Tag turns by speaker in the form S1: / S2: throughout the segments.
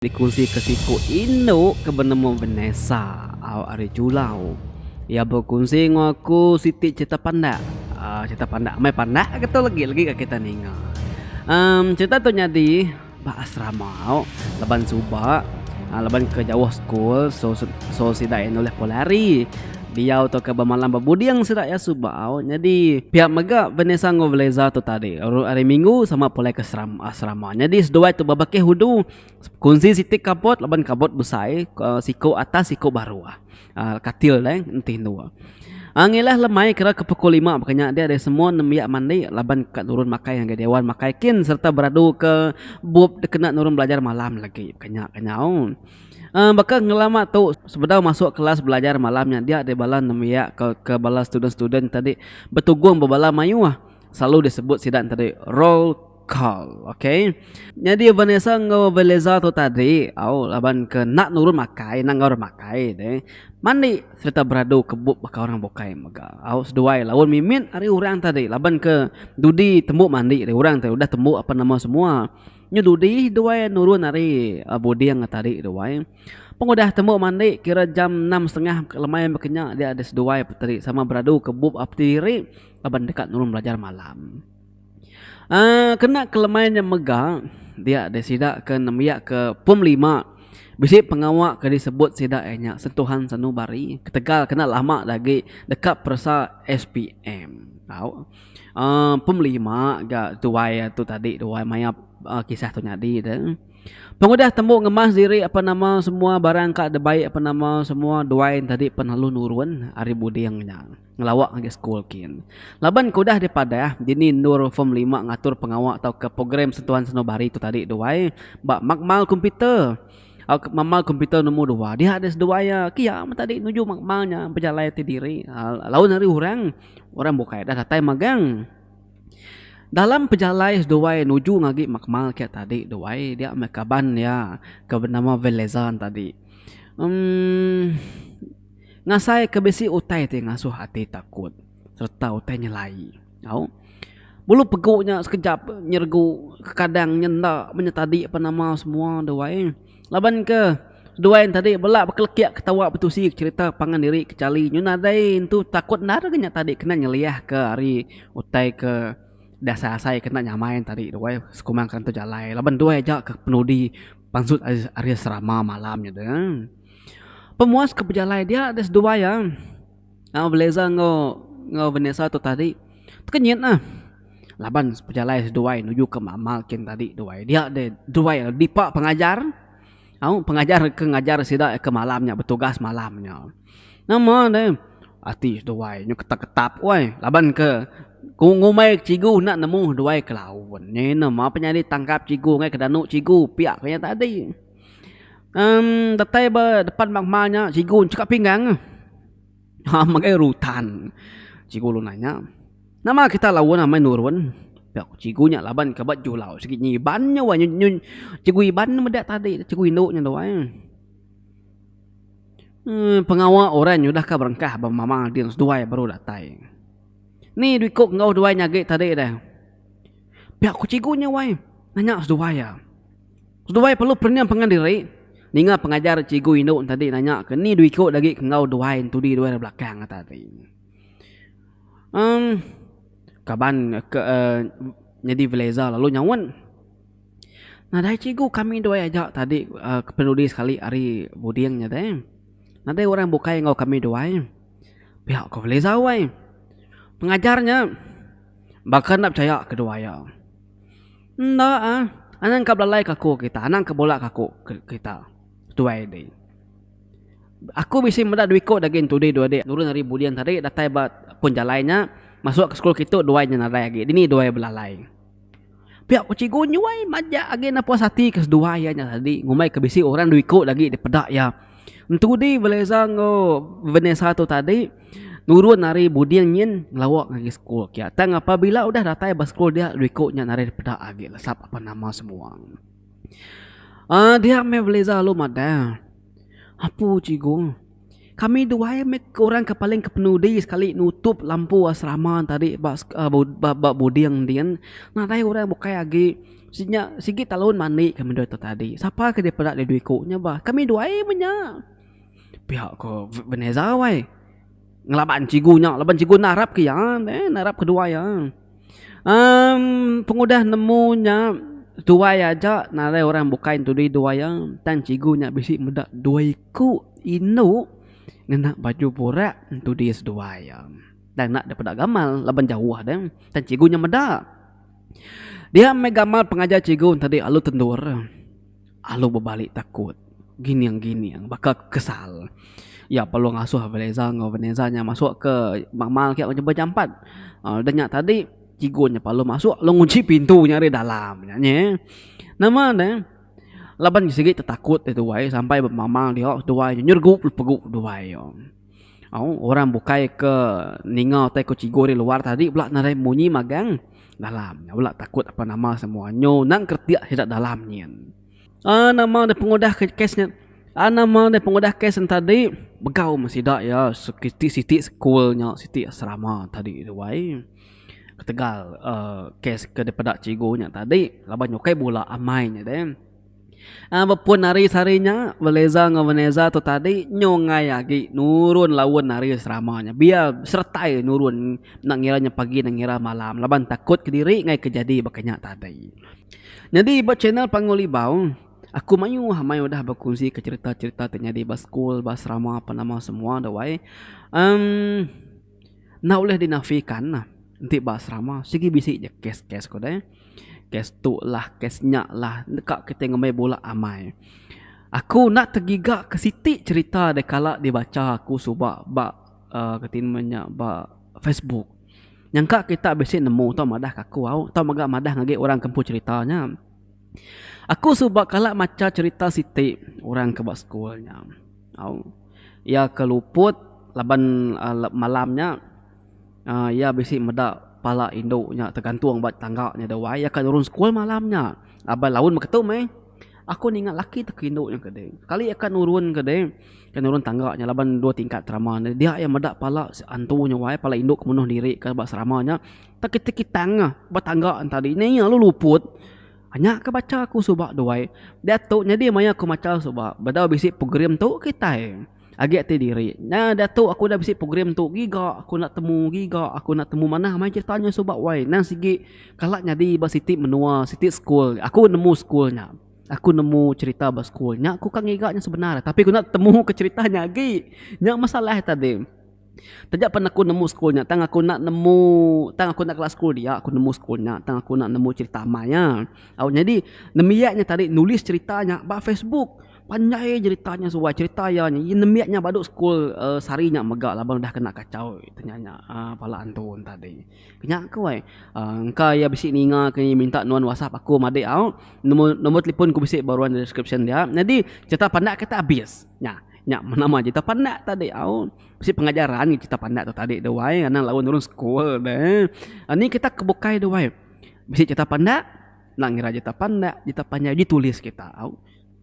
S1: Dikunsika siku indu ke benemu Vanessa ari Julau. Iya bekunsi enggau aku siti cherita pandak. Aaa cherita pandak amai pandak lalu tu legi legi ka kita ninga. Emm cherita tu nyadi ba asrama laban suba laban ke jauh sekul so sida enda ulih pulari. diau tauka bemalam bebuding sida iya suba au nyadi pia mega Vanessa enggau Veleza tu tadi ru hari minggu sama pulai ke seram asrama nyadi seduai tu bebakih udu kunsi siti kabut laban kabut besai ke siku atas siku baruh um katil deh enti endu um ngilah le mai kira ke pukul lima baka nya dia semua nembiak mandi laban ka nurun makai ngagai dewan makai kin sereta beradu ke bup dikena nurun belajar malam lagi ka nya kenyau. Um baka ngelama tu sebedau masuk kelas belajar malam nya dia deh bala nembiak ke ke bala student-student tadi betugung ba bala mayuh selalu disebut sida ne tadi roll call ok. Nyadi Vanessa enggau Veleza tu tadi au laban ke enda nurun makai enda enggau orang makai deh mandi sereta beradu ke bup baka orang bukai mega. Au seduai laun mimit ari orang tadi laban ke dudi tembu mandi ari orang tadi udah tembu apan nama semua. Nyu dudi duai nurun ari buding tadi duai. Pengudah tembu mandi kira jam enam setengah ka lemai mega kenya dia di seduai peteri sama beradu ke bup ap ti diri laban deka nurun belajar malam. Aaa kena ke lemai nya mega dia di sida ke nembiak ke pom lima bisi pengawa ke disebut sida iya nya Sentuhan Sanubari ketegal kena lama agi deka peresa SPM tau. Um Pemelima ga tuai tu tadi tuai maya um kisah tu nyadi tu. Pengudah tembu ngemas diri apa nama semua barang ka dibai apa nama semua duai tadi pen lalu nurun ari buding nya ngelawa ngagai school kin. Laban ke udah dipadah dini endur form lima ngatur pengawa tauka program sentuhan seno bari tu tadi duai ba makmal komputer. Au ke makmal komputer nombor dua. Dia deh seduai iya. Ke iya meh tadi nuju makmal nya pejalai ti diri um laun ari orang. Orang bukai dah datai magang. Dalam pejalai seduai nuju ngagi makmal kiya tadi tu ai dia meh kaban dia ke benama Velezan tadi. Emm ngasai ke bisi utai ti ngasuh ati takut sereta utai nyelai tau. Bulu pegu nya sekejap nyeregu kekadang nya enda menyetadi apa nama semua tu ai. Laban ke seduai ne tadi bela bekelekik ketawa betusi cerita pangan diri ke chali nyu nadai entu takut enda deh nya tadi kena nyeliah ke ari utai ke dasai asai kena nyamai ne tadi duai sekuma kentu jalai laban duai aja ke penudi pansut ari serama malam nya de. Pemuas ke bejalai dia deh seduai a. Nya beleza enggau Vanessa tu tadi tu nyit neh laban pejalai seduai nuju ke mama kin tadi duai dia deh duai dipa pengajar au pengajar ke ngajar sida ke malam nya betugas malam nya nama deh ati seduai nyu ketap ketap weh laban ke ngumbai cikgu enda nemu seduai ke laun nya ine ma penyadi tangkap cikgu ngai ke danu cikgu pia ko nya tadi. Emm datai ba depan ba hma nya cikgu enchika pinggang ah. Hha magai rutan. Cikgu lalu nanya, Nama kita laun amai nurun? Pia ku cikgu nya laban ke ba julau sigi inya Iban nya wai. Nyu cikgu Iban ne meda tadi tu cikgu indu nya tu wai. Emm pengawa orang nyudah ka berengkah ba mama ading seduai baru datai. Ni dui ku enggau duai nya agi tadi deh. Pia ku cikgu nya wai. Nanya seduai iya. Seduai perlu pening pengan diri ninga pengajar cikgu indu tadi nanya ke ni dua iko agi ke enggau duai entudi duai rak belakang nya tadi. Em kaban ke nyadi veleza lalu nyaun nadai cikgu kami duai aja tadi penudi sekali ari buding nya deh. Nadai orang bukai enggau kami duai. Pia ko veleza weh. Pengajar nya baka enda pechaya ke duai iya. Enda ah. Anang ka belalai ke aku kita. Anang ke bula ke aku kita. Tuai deh. Aku bisi meda dua iko dagih entudi dua dik nurun ari buling tadi datai ba pun jalai nya masuk ke sekul kitu duai nya nadai agi. Dini duai belalai. Pia ku cikgu nyuai majak agi enda puas ati ke seduai iya nya tadi ngumbai ke bisi orang dua iko lagi dipeda iya. Entudi Veleza enggau Vanessa tu tadi. Nurun ari buding nyin ngelawa ngagai sekul kiya. Tang apabila udah datai ba sekul dia dua iku nya narit peda agi lesap apan nama semua. Aaa dia meh Veliza lalu madah, Apu cikgu, kami duai meh orang ke paling kepenudi sekali nutup lampu asrama tadi ba ba buding din. Nadai orang bukai agi si nya sigi talun mandi kami dua tu tadi. Sapa ke dipeda dua iku nya bah. Kami duai meh nya. Pihak ke Veneza wai ngelaban cigu nya laban cigu enda arap ke iya deh enda arap ke dua iya. Um pengudah nemu nya tuai aja narai orang bukai entudi dua iya tang cigu nya bisi meda dua iku indu ngena baju burak entudi seduai iya. Enda ngena dep peda gamal laban jauh deh tang cigu nya meda. Dia meh gamal pengajar cigu enti alu tendur. Alu bebali takut. Gining-gining. Baka ke kesal. Iya perlu ngasuh Veleza enggau Veneza nya masuk ke mamal kiya nyebah jampat. Udah nya tadi, cikgu nya perlu masuk lalu ngunchi pintu nya ari dalam nya nyi. Nama ne, laban sigi tetakut ari tuai sampai bemamal diau tuai nyergu pegu tuai. Au, orang bukai ke ninga utai ku cikgu ari luar tadi pula nadai munyi magang dalam. Nya pula takut apan nama semua nyu nang kretik sida dalam nyin. Aa nama deh pengudah ke kes nya aa nama deh pengudah kes nya tadi begau meh sida iya siti siti sekul nya siti asrama tadi tu ai. Ketegal aaa kes ke dipeda cikgu nya tadi laban ukai bula amai nya deh. Bepun ari sehari nya, Veleza enggau Veneza tu tadi nyungai agi nurun laun ari serama nya. Biya seretai nurun enda ngira nya pagi enda ngira malam laban takut kediri enggau ke jadi baka nya tadi. Nyadi ba channel Panggul Ibau, aku mayuh amai udah berkonsika cherita-cherita ti nyadi ba skul, ba serama apan nama semua dawai. uhh Enda ulih dinafika nah enti ba serama sigi bisi ja kes-kes ko deh. Kes tu lah kes nya lah deka kitai ngembai bula amai. Aku enda tegiga ke siti cerita da kala dibacha aku suba ba aaa reti nama nya ba facebook. Nyangka kita bisi nemu tau madah ka aku au tau mega madah ngagai orang ke empu cerita nya. Aku suba kala macha cherita siti orang ke ba school nya. Au iya ke luput laban malam nya uhh iya bisi meda pala indu nya tegantung ba tangga nya da wai. Iya ka nurun school malam nya laban laun meh ketum meh. Aku ninga laki tu ke indu nya ke deh. Sekali iya ka nurun ke deh, ka nurun tangga nya laban dua tingkat serama ne. Dia iya meda pala antu nya wai, pala indu ke menuh diri ka ba serama nya. Tekitange ba tangga enta adi nya iya lalu luput. Anya ke bacha aku suba duai. Diatu nyadi maya aku macha suba bedau bisi program tu kitai agi ti diri. Nya diatu aku udah bisi program tu giga aku enda temu giga aku enda temu manah main crita nya suba wai. Endang sigi kala nyadi ba siti menua siti school aku nemu school nya. Aku nemu crita ba school nya aku ka ngiga nya sebenar tapi aku enda temu ke crita nya agi. Nya masalah tadi. Taja pen aku nemu school nya tang aku enda nemu tang aku enda kena school dia aku nemu school nya tang aku enda nemu cherita amai nya. Au nyadi nembiak nya tadi nulis cherita nya ba facebook panjai cherita nya suwai cherita iya nya ye nembiak nya badu school uhh sehari nya mega laban udah kena kachau nya nya nya uhh pala antu tadi. Nya ku ai uhh engka iya bisi ninga ke iya minta nuan whatsapp aku madik au nemu nombor telefon ku bisi ba ruan deskripsyen dia nyadi cherita pandak kita abis nya. Nya nama cerita pandak tadi au. Bisi pengajaran nya cerita pandak tu tadi tu wai anak lalu nurun sekul deh. Anih kita ke bukai tu wai. Bisi cerita pandak, enda ngira cerita pandak, cerita panjai uji tulis kita au.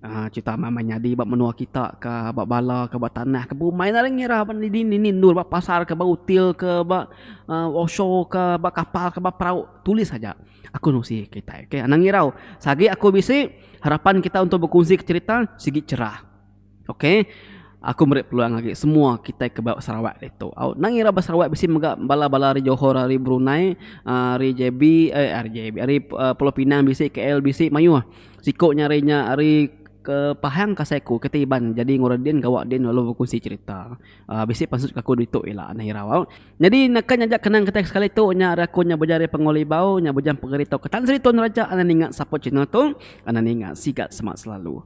S1: Aaa cerita mama nyadi ba menua kita ka, ba bala ka, ba tanah ka, bumai enda ngira ba dini dini endur ba pasar ka, ba hotel ka, ba aaa offshore ka, ba kapal ka, ba perau, tulis aja. Aku nusi kitai, ke. Anak ngirau, sagi aku bisi harapan kita untuk bekunsika cerita sigi cerah. Ok aku meri peluang agi semua kitai ke ba Sarawak ditu au nang ira ba Sarawak bisi mega bala bala ari Johor ari Brunei ari JB eh ari JB ari Pulau Pinang bisi KL bisi mayuh siku nya ari nya ari ke Pahang ke Seiku ke Iban jadi ngaran din gawa din lalu bekusi cherita bisi maksud aku ditu ila nang irau au nyadi naka nyajak kenang kitai sekali tu nya ari aku nya bejalai Pengelibau nya bujang pengeri tau ke Tan Sri Tun Rajak ninga sapa channel tu ana ninga siga semak selalu.